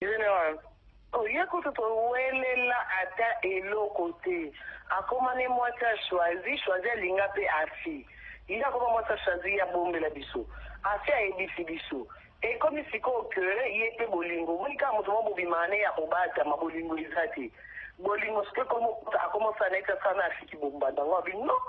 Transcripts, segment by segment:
General, oh ye kutu to welela ata eloko te, akoma ne mwasi ya Choisy, Choisy alinga pe Afy, ye akoma mwasi ya Choisy ye abombela biso, Afy ayebisi biso, ekomi sikoyo que ye pe bolingo, omoni kaka moto moko bobimaka ne ye ya kobatama, bolingo eza te, bolingo sikoyo ekomi akoma osala neti asala na Afy ki bombanda, nga olobi non.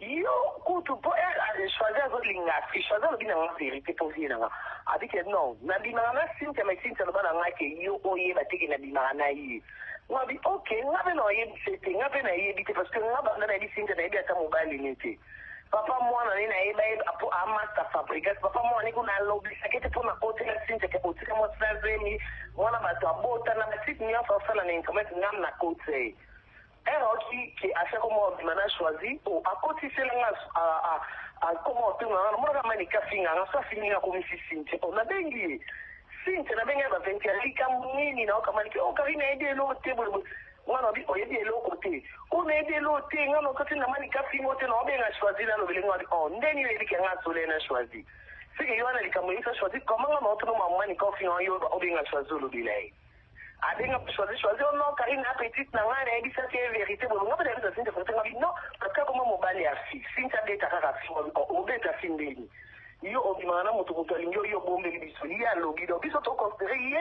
Yo kutu po eeh choisy azo linga affiche choisy alobi na nga verite po vie na nga abi ke non na bimaka na cynthia mais cynthia aloba na nga ke yo o yeba te ke na bimaka na ye nga abi ok nga pe nao yebisa ye te nga pe na yebi te parce que nga banda na yebi cynthia na yebi ata mobali ne te papa mwana ne na yeba ye po a masta fabrigas papa mwana ne ko na lobisa ke te po na kotela cynthia ke o tika mwasi na zemi mwana batu a bota na ba site nionso a sala na internet nga na kotia ye Heure aoki ke asi akoma kobima n'a choisi oh akotisela nga ah akoma kotunga nga namonaka Manicke afinga nga soki afingi nga akomisi Cynthia oh nabengi ye Cynthia nabengi ye ba 20 heures likambu nini nayoka Manicke oh Carine nayebi eloko te boye boye nga nalobi oyebi eloko te oh nayebi eloko te nga nazo tinda Manicke afinga yo te nao benga choisi n'a lobela ye nga nalobi oh nde nini oyebi ke nga solo ye n'a choisi ce que yo wana likambu oyebisa choisi comment nga nao tuna mamu Manicke aofinga nga yo obenga choisi olobela ye Abenga pe Choisy, Choisy oh non Carine n'a petite na ngai nayebisaki ye verite boye nga pe nayebisa Cynthia verite nga bi non parce que akoma mobali ya fille Cynthia abeta kaka fille nga bi oh obeta fille ndeni yo obimaka na mutu mutu alingi yo yo obombeli biso ye alobi donc biso to considere ye